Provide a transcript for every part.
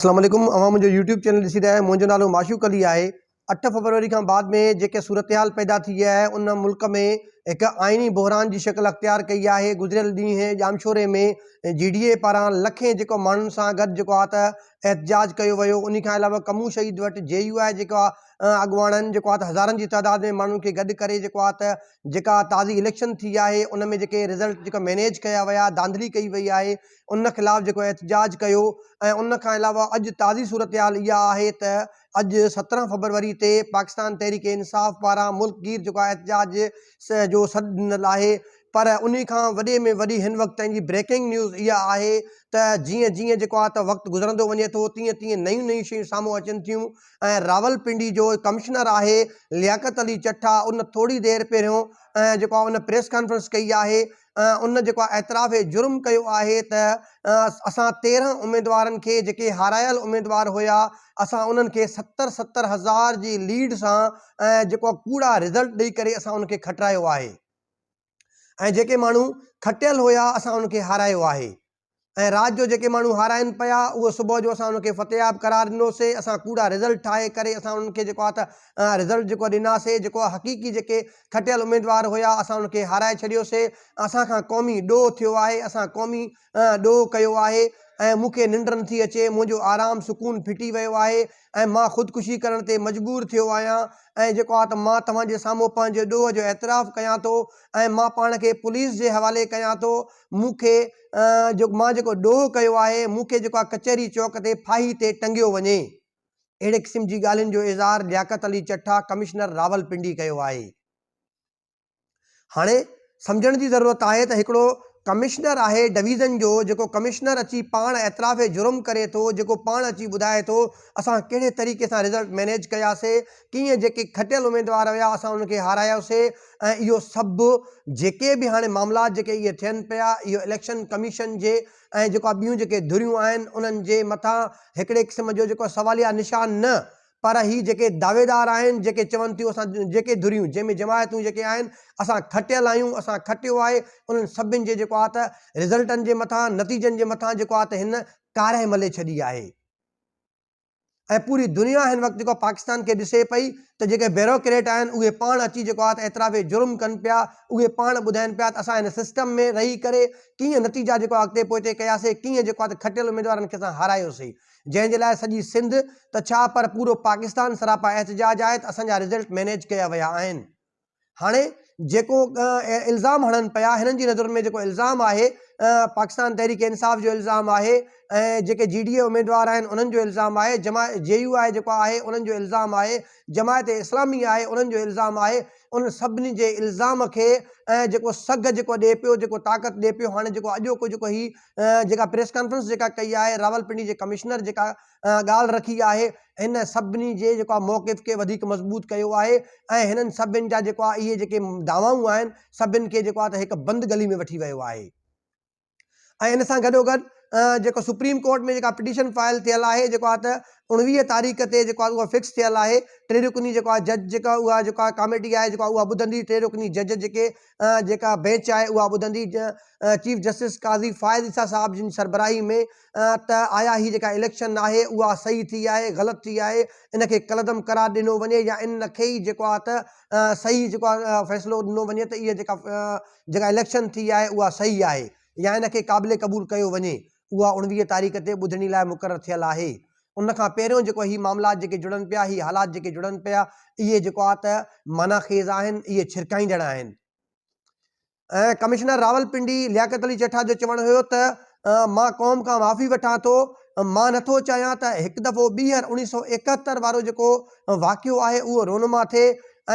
اسلام عليڪم اوهان منهنجو يوٽيوب چينل ڏسي رهيا آهيو منهنجو نالو معشوق علي آهي اٺ فبروري کان بعد ۾ جيڪي صورتحال پيدا ٿي آهي ان ملڪ ۾ هڪ آئيني بحران جي شڪل اختيار ڪئي آهي گذريل ڏينهن ڄامشوري ۾ جي ڊي اي پاران لکين جيڪو ماڻهن سان گڏ جيڪو آ ته احتجاج ڪيو ويو انهي کان علاوه ڪمون شهيد وٽ جي يو آئي جيڪو آ اڳواڻن جيڪو آ ته هزارن جي تعداد ۾ ماڻهن کي گڏ ڪري جيڪو آ ته جيڪا تازي اليڪشن ٿي آهي ان ۾ جيڪي رزلٽ جيڪا مينيج ڪيا ويا ڌانڌلي ڪئي وئي آهي ان خلاف جيڪو احتجاج ڪيو ۽ ان کان علاوه اڄ تازي صورتحال اها آهي ته اڄ سترهن فبروري تي پاڪستان تحريڪ انصاف پاران ملڪ گير جيڪو آهي احتجاج جو سڏ ڏنل آهي پر انهي کان وڏي ۾ وڏي هن وقت تائين جي بريڪنگ نيوز اها آهي ته جيئن جيئن جيڪو آهي ته وقت گذرندو وڃي ٿو تيئن تيئن نيون نيون شيون سامهون اچن ٿيون ۽ راولپنڊي جو ڪمشنر آهي لياقت علي چٺا ان ٿوري دير پهريون جيڪو آهي ان پريس ڪانفرنس ڪئي آهي ان جيڪو آهي اعتراف جرم ڪيو آهي ته اسان تيرهن اميدوارن کي جيڪي هارايل اميدوار هيا اسان انهن کي ستر ستر هزار جي ليڊ سان ۽ جيڪو ڪوڙا رزلٽ ڏئي ڪري اسان ان کي کٽرايو آهي ۽ جيڪي ماڻهو کٽيل هيا اسان ان کي هارايو آهي ۽ رات جو جيڪي ماڻهو هارائن پيا اهو صبح جو اسان ان کي فتحياب قرار ڏنوسي اسان ڪوڙا رزلٽ ٺاهي ڪري اسان انهن کي جيڪو آهي ته رزلٽ جيڪو آهي ڏناسي جيڪو آهي حقيقي جيڪي کٽيل اميدوار هيا اسان انهن کي هارائي ڇڏيوسي اسان کان قومي ڏوهه ٿيو آهي اسان قومي ڏوهه ڪيو آهي ۽ مون کي ننڊ نٿي اچي منهنجو آرام سڪون ڦٽي ويو آهي ۽ مان خودڪشي ڪرڻ تي مجبور ٿيو آهيان ۽ جيڪو آهي ته مان توهان جي سامهون پنهنجي ڏوهه جو اعتراف ڪيان ٿو ۽ مان پاڻ کي پوليس جي حوالي ڪيان ٿو مون کي جو مان جيڪو ڏوهه ڪيو آهي، مون کي جيڪو آ ڪچهري چوڪ تي ڦاهي تي ٽنگيو وڃي. اهڙي قسم جي ڳالهين جو اظهار لياقت علي چٺا ڪمشنر راولپنڊي ڪيو آهي. هاڻي سمجهڻ جي ضرورت آهي ته هڪڙو ڪمشنر آهي ڊويزن جو جيڪو ڪمشنر اچي پاڻ اعتراف جرم ڪري ٿو، جيڪو پاڻ اچي ٻڌائي ٿو اسان ڪهڙي طريقي سان رزلٽ مينيج ڪياسي، ٽيئن جيڪي کٽيل اميدوار هيا اسان انهن کي هارايوسي ۽ اهو سڀ جيڪي به هاڻي معاملات جيڪي اهي ٿين پيا اهو اليڪشن ڪميشن جي ۽ جيڪو آ ٻيون جيڪي ڌريون آهن انهن جي مٿان هڪڙي قسم جو جيڪو سواليه نشان نه پر هي جيڪي دعويدار آهن جيڪي چون ٿيون اسان جيڪي ڌريون جنهن ۾ جماعتون جيڪي آهن اسان کٽيل آهيون اسان کٽيو آهي انهن سڀن جي جيڪو آ ته رزلٽن جي مٿان نتيجن جي مٿان جيڪو آ ته هن ڪارهه ملهي ڇڏي آهي. ۽ پوري دنيا هن وقت جيڪو آهي پاڪستان کي ڏسي پئي ته جيڪي بيروڪريٽ آهن اهي پاڻ اچي جيڪو آهي ته اعتراف جرم ڪن پيا اهي پاڻ ٻڌائين پيا ته اسان هن سسٽم ۾ رهي ڪري ڪيئن نتيجا جيڪو آهي اڳتي پوئتي ڪياسي ڪيئن جيڪو آهي ته کٽيل اميدوارن کي اسان هارايوسي جنهن جي لاء سڄي سنڌ ته ڇا پر پورو پاڪستان سراپا احتجاج آهي ته اسان جا رزلٽ مينيج ڪيا ويا آهن. هاڻي جيڪو الزام هڻن پيا هنن جي نظرن ۾ جيڪو الزام آهي پاڪستان تحريڪ انصاف جو الزام آهي ۽ جيڪي جي ڊي اي اميدوار آهن انهن جو الزام آهي جماع جي يو آء جيڪو آهي انهن جو الزام آهي جماعت اسلامي آهي انهن جو الزام آهي انهن سڀني جي الزام کي جيڪو سگهه جيڪو ڏي پيو جيڪو طاقت ڏي پيو هاڻي جيڪو اڄوڪو جيڪو هي جيڪا پريس ڪانفرنس جيڪا ڪئي آهي راولپنڊي جي ڪمشنر جيڪا ڳالهه رکي آهي، هن سڀني جي جيڪو آهي موقف کي وڌيڪ مضبوط ڪيو آهي ۽ هنن سڀني جا جيڪو آهي اهي جيڪي دعوائون آهن سڀني کي جيڪو آهي ته هڪ بند گلي ۾ وٺي ويو آهي ۽ ان سان گڏوگڏ جيڪو سپريم ڪورٽ ۾ جيڪا پٽيشن فائل ٿيل آهي جيڪو آهي ته اوڻويهه تاريخ تي جيڪو آهي اها فڪس ٿيل آهي ٽي رڪني جيڪو آهي جج جيڪا اها جيڪو آهي ڪاميٽي آهي جيڪو اها ٻڌندي ٽي رڪني جج جيڪي جيڪا بينچ آهي اها ٻڌندي چيف جسٽس قاضي فائز عيسيٰ صاحب جن سربراهي ۾ ته آيا هي جيڪا اليڪشن آهي اها صحيح ٿي آهي غلط ٿي آهي ان کي ڪلعدم قرار ڏنو وڃي يا ان کي ئي جيڪو آهي ته صحيح جيڪو آهي فيصلو ڏنو وڃي ته اها جيڪا جيڪا اليڪشن ٿي آهي اها صحيح آهي يا ان کي قابل قبول ڪيو وڃي اها اوڻويهه تاريخ تي ٻڌڻي لاء مقرر ٿيل آهي ان کان پهريون جيڪو هي معاملات جيڪي جڙن پيا هي حالات جيڪي جڙن پيا اهي جيڪو آهي ته معنيٰ خيز آهن اهي ڇرڪائيندڙ آهن. ۽ ڪمشنر راولپنڊي لياقت علي چيٺا جو چوڻ هيو ته مان قوم کان معافي وٺان ٿو، مان نه ٿو چاهيان ته هڪ دفعو ٻيهر اڻيهه سؤ ايڪهتر وارو جيڪو واقعو آهي اهو رونما ٿئي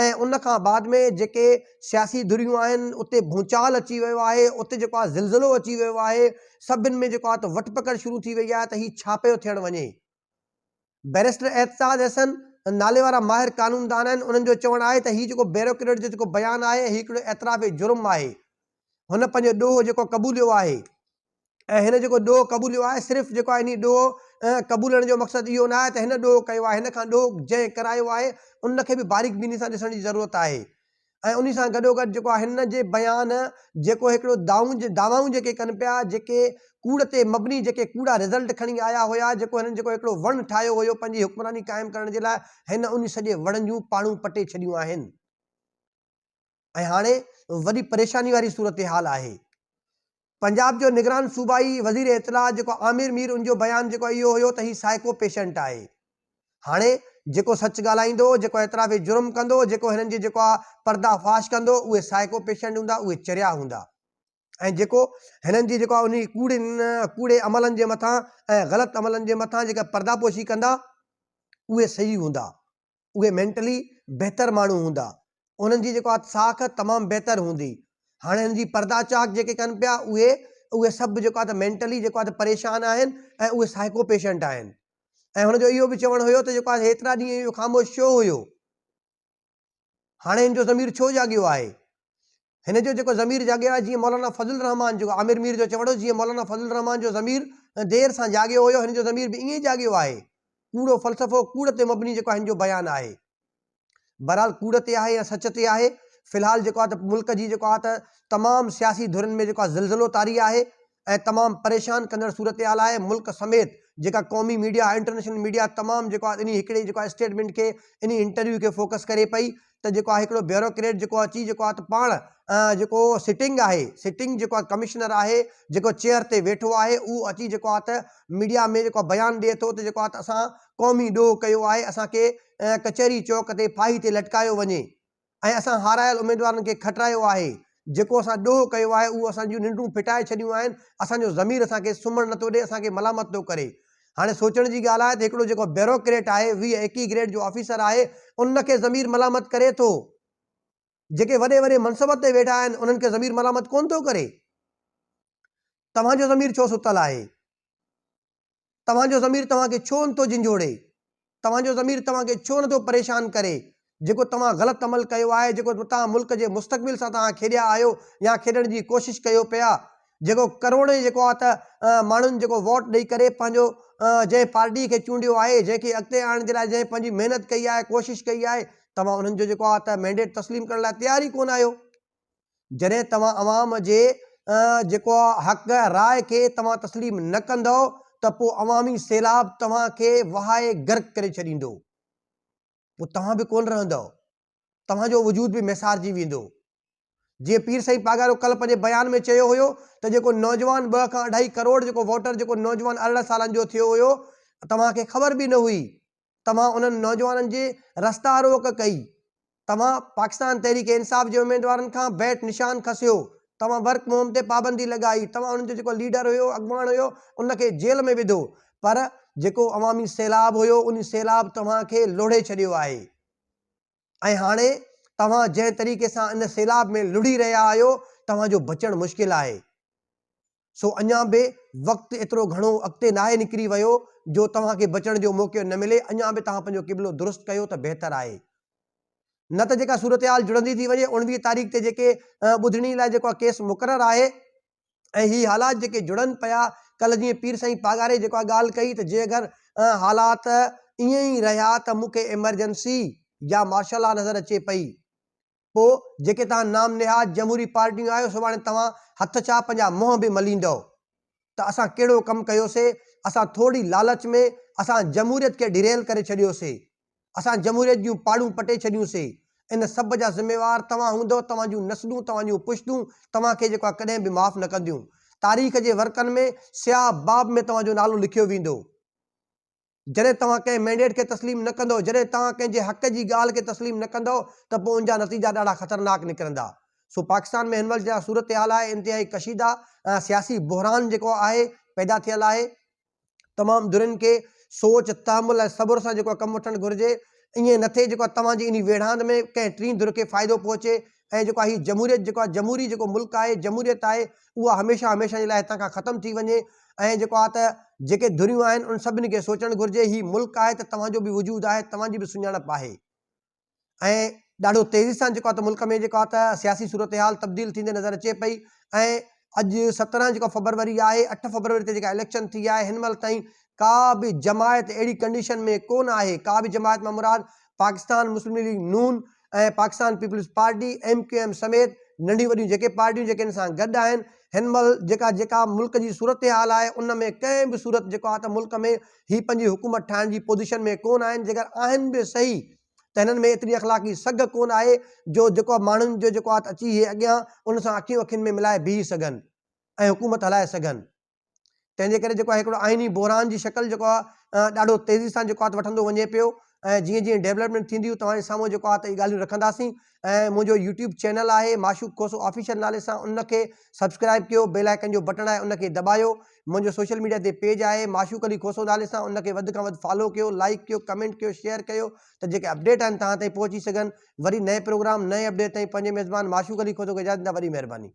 ۽ ان کان بعد ۾ جيڪي سياسي ڌريون آهن اتي ڀونچال اچي ويو آهي، اتي جيڪو آهي زلزلو اچي ويو آهي، سڀن ۾ جيڪو آهي ته وٺ پڪڙ شروع ٿي وئي آهي ته هي ڇا پيو ٿيڻ وڃي. بئريسٽر احتساج حسن نالي وارا ماهر قانوندان آهن، انهن جو چوڻ آهي ته هي جيڪو بيوروڪريٽ جو جيڪو بيان آهي هي هڪڙو اعتراف جرم آهي، هن پنهنجو ڏوهه جيڪو قبوليو آهي ۽ هن جيڪو ڏوهه قبوليو آهي صرف جيڪو آهي انهي ڏوهه قبولڻ جو مقصد اهو نه آهي ته هن ڏوهه ڪيو آهي، هن کان ڏوهه جنهن ڪرايو آهي ان کي به باريڪ بيني سان ڏسڻ جي ضرورت آهي، ۽ انهي سان گڏوگڏ جيڪو آهي هن جي بيان جيڪو هڪڙو دائون دعوائون جيڪي ڪن پيا جيڪي ڪوڙ تي مبني جيڪي ڪوڙا رزلٽ کڻي آيا هيا جيڪو هنن جيڪو هڪڙو وڻ ٺاهيو هيو پنهنجي حڪمراني قائم ڪرڻ جي لاء هن انهي سڄي وڻ جون پاڙون پٽي ڇڏيون آهن ۽ هاڻي وڏي پريشاني واري صورتحال آهي. پنجاب جو نگران صوبائي وزير اطلاعات جيڪو عامر مير ان جو بيان جيڪو اهو هيو ته هي سائيڪو پيشنٽ آهي هاڻي جيڪو سچ ڳالهائيندو جيڪو اعتراف جرم ڪندو جيڪو هنن جي جيڪو آ پردا فاش ڪندو اهي سائيڪو پيشنٽ هوندا اهي چريا هوندا ۽ جيڪو هنن جي جيڪو آ انهي ڪوڙين ڪوڙي عملن جي مٿان ۽ غلط عملن جي مٿان جيڪا پردا پوشي ڪندا اهي صحيح هوندا. اهي مينٽلي بهتر ماڻهو هوندا انهن جي جيڪو آهي ساک تمام بهتر هوندي هاڻي هن جي پردا چاڪ جيڪي ڪن پيا اهي اهي سڀ جيڪو آهي ته مينٽلي جيڪو آهي ته پريشان آهن ۽ اهي سائيڪو پيشنٽ آهن ۽ هن جو اهو به چوڻ هيو ته جيڪو آهي هيترا ڏينهن اهو خاموش ڇو هيو هاڻي هن جو ضمير ڇو جاڳيو آهي هن جو جيڪو ضمير جاڳيو آهي، جيئن مولانا فضل الرحمان جو عامر مير جو چوڻ هو، جيئن مولانا فضل الرحمان جو ضمير دير سان جاڳيو هيو، هن جو ضمير به ائين ئي جاڳيو آهي. ڪوڙو فلسفو، ڪوڙ تي مبني جيڪو آهي هن جو بيان آهي. بهرحال ڪوڙ تي آهي يا سچ تي آهي، في الحال جيڪو آهي ته ملڪ جي جيڪو آهي ته تمام سياسي ڌرين ۾ جيڪو آهي زلزلو طاري آهي، ۽ تمام پريشان ڪندڙ صورتحال آهي ملڪ سميت جيڪا قومي ميڊيا ۽ انٽرنيشنل ميڊيا تمام جيڪو آهي انهي هڪڙي جيڪو آهي اسٽيٽمينٽ کي انهي انٽرويو کي فوڪس ڪري پئي ته جيڪو آهي هڪڙو بيوروڪريٽ جيڪو اچي جيڪو آهي ته پاڻ جيڪو سٽنگ آهي سٽنگ جيڪو آهي ڪمشنر آهي جيڪو چيئر تي ويٺو آهي اهو اچي جيڪو آهي ته ميڊيا ۾ جيڪو بيان ڏئي ٿو ته جيڪو آهي ته اسان قومي ڏوهه ڪيو آهي اسان کي ڪچهري چوڪ تي ڦاهي تي لٽڪايو وڃي ۽ اسان هارايل اميدوارن کي کٽرايو آهي. جيڪو اسان ڏوهه ڪيو آهي اهو اسان جون ننڊون ڦٽائي ڇڏيون آهن، اسان جو ضمير اسان کي سمهڻ نه ٿو ڏئي، اسان کي ملامت ٿو ڪري. هاڻي سوچڻ جي ڳالهه آهي ته هڪڙو جيڪو بيوروڪريٽ آهي، ويهه ايڪيهه گريڊ جو آفيسر آهي، ان کي ضمير ملامت ڪري ٿو؟ جيڪي وڏي وڏي منصبن تي ويٺا آهن، انهن کي ضمير ملامت ڪونه ٿو ڪري؟ توهان جو ضمير ڇو ستل آهي؟ توهان جو ضمير توهان کي ڇو نٿو جنجهوڙي؟ توهان جو ضمير توهان کي ڇو نٿو پريشان ڪري؟ جيڪو توهان غلط عمل ڪيو آهي، جيڪو توهان ملڪ جي مستقبل سان توهان کيڏيا آهيو يا کيڏڻ جي ڪوشش ڪيو پيا، جيڪو ڪروڙين جيڪو آهي ته ماڻهن جيڪو ووٽ ڏئي ڪري پنهنجو جنهن پارٽي کي چونڊيو آهي، جنهن کي اڳتي آڻڻ جي لاء جنهن پنهنجي محنت ڪئي آهي، ڪوشش ڪئي آهي، توهان انهن جو جيڪو آهي ته مينڊيٽ تسليم ڪرڻ لاء تيار ئي ڪونه آهيو. جڏهن توهان عوام جي جيڪو حق راء کي توهان تسليم نه ڪندؤ ته پوء عوامي سيلاب توهان کي وهائي غرق ڪري ڇڏيندو. پوء توهان به ڪونه رهندؤ. توهان جو وجود به ميسارجي ويندو. جيئن پير سائين پاڳارو ڪلهه پنهنجي بيان ۾ چيو هيو ته جيڪو نوجوان ٻه کان اڍائي ڪروڙ جيڪو ووٽر جيڪو نوجوان ارڙهن سالن جو ٿيو هيو توهان کي خبر به نه هئي توهان انهن نوجوانن جي رستا روڪ ڪئي، توهان پاڪستان تحريڪ انصاف جي اميدوارن کان بيٽ نشان کسيو، توهان ورڪ مهم تي پابندي لڳائي، توهان انهن جو جيڪو ليڊر هيو، اڳواڻ هيو، ان کي جيل ۾ وڌو، پر جيڪو عوامي سيلاب هيو، ان سيلاب توهان کي لوڙهي ڇڏيو آهي ۽ هاڻي توهان جنهن طريقي سان ان سيلاب ۾ لڙهي رهيا آهيو، توهان جو بچڻ مشڪل آهي. سو اڃان به وقت ايترو گهڻو اڳتي ناهي نڪري ويو جو توهان کي بچڻ جو موقعو نه ملي، اڃان به توهان پنهنجو قبلو درست ڪيو ته بهتر آهي. نه ته جيڪا صورتحال جڙندي ٿي وڃي اوڻويهه تاريخ تي جيڪي ٻڌڻي لاء جيڪو ڪيس مقرر آهي ۽ هي حالات جيڪي جڙن پيا ڪلهه جيئن پير سائين پاڳاري جيڪا ڳالهه ڪئي ته جي اگر حالات ائين ئي رهيا ته مون کي ايمرجنسي يا مارشل لا نظر اچي پئي پوء جيڪي توهان نام نهاد جمهوري پارٽيون آهيو سڀاڻي توهان هٿ ڇا پنهنجا منهن به مليندؤ ته اسان ڪهڙو ڪم ڪيوسي اسان ٿورڙي لالچ ۾ اسان جمهوريت کي ڍريل ڪري ڇڏيوسي اسان جمهوريت جون پاڙون پٽي ڇڏيون سي ان سڀ جا ذميوار توهان هوندؤ توهان جون نسلون توهان جون پشتون توهان کي جيڪو آهي ڪڏهن به معاف نه ڪنديون تاريخ جي ورقن ۾ سياهه باب ۾ توهان جو نالو لکيو ويندو. جڏهن توهان ڪنهن مينڊيٽ کي تسليم نه ڪندؤ، جڏهن توهان ڪنهن جي حق جي ڳالهه کي تسليم نه ڪندؤ ته پوء ان جا نتيجا ڏاڍا خطرناڪ نڪرندا. سو پاڪستان ۾ هن وقت جيڪا صورتحال آهي انتهائي ڪشيده ۽ سياسي بحران جيڪو آهي پيدا ٿيل آهي. تمام ڌرين کي سوچ، تحمل ۽ صبر سان جيڪو ڪم وٺڻ گهرجي. ائين نه ٿئي جيڪو توهان جي انهي ويڙهاند ۾ ڪنهن ٽين ڌر کي فائدو پهچي ۽ جيڪو هي جمهوريت جيڪو آهي جمهوري جيڪو ملڪ آهي جمهوريت آهي اها هميشه هميشه جي لاء هتان کان ختم ٿي وڃي ۽ جيڪو آهي ته جيڪي ڌريون آهن انهن سڀني کي سوچڻ گهرجي هي ملڪ آهي ته توهان جو به وجود آهي توهان جي به سڃاڻپ آهي ۽ ڏاڍو تيزي سان جيڪو آهي ته ملڪ ۾ جيڪو آهي ته سياسي صورتحال تبديل ٿيندي نظر اچي پئي ۽ اڄ سترهن جيڪو فبروري آهي اٺ فبروري تي جيڪا اليڪشن ٿي آهي هن مهل تائين ڪا به جماعت اهڙي ڪنڊيشن ۾ ڪونه آهي ڪا به جماعت مان مراد پاڪستان مسلم ليگ نون ۽ Pakistan peoples party, M Q M, سميت ننڍيون وڏيون جيڪي پارٽيون جيڪي ان سان گڏ آهن، هن مهل جيڪا جيڪا ملڪ جي صورتحال آهي ان ۾ ڪنهن به صورت جيڪو آهي ته ملڪ ۾ هي پنهنجي حڪومت ٺاهڻ جي پوزيشن ۾ ڪونه آهن، جيڪر آهن به صحيح ته هنن ۾ ايتري اخلاقي سگهه ڪونه آهي جو جيڪو ماڻهن جو جيڪو آهي ته اچي هي اڳيان ان سان اکيون اکين ۾ ملائي بيهي سگهن ۽ حڪومت هلائي سگهن. تنهن جي ڪري جيڪو آهي هڪڙو آئيني بحران جي شڪل جيڪو آهي ڏاڍو تيزي سان جيڪو آهي وٺندو وڃي پيو ۽ جيئن جيئن ڊيولپمينٽ ٿينديون توهان جي سامهون جيڪو آهي ته اهي ڳالهيون رکنداسين ۽ منهنجو يوٽيوب چينل آهي معشوق کوسو آفيشل نالي سان ان کي سبسڪرائب ڪيو بيل آئيڪن جو بٽڻ آهي ان کي دٻايو منهنجو سوشل ميڊيا تي پيج آهي معشوق علي کوسو نالي سان ان کي وڌ کان وڌ فالو ڪيو لائڪ ڪيو ڪمينٽ ڪيو شيئر ڪيو ته جيڪي اپڊيٽ آهن توهان تائين پهچي سگهن وري نئين پروگرام نئين اپڊيٽ تائين پنهنجي ميزبان معشوق علي کوسو کي اجازت ڏيندا وڏي مهرباني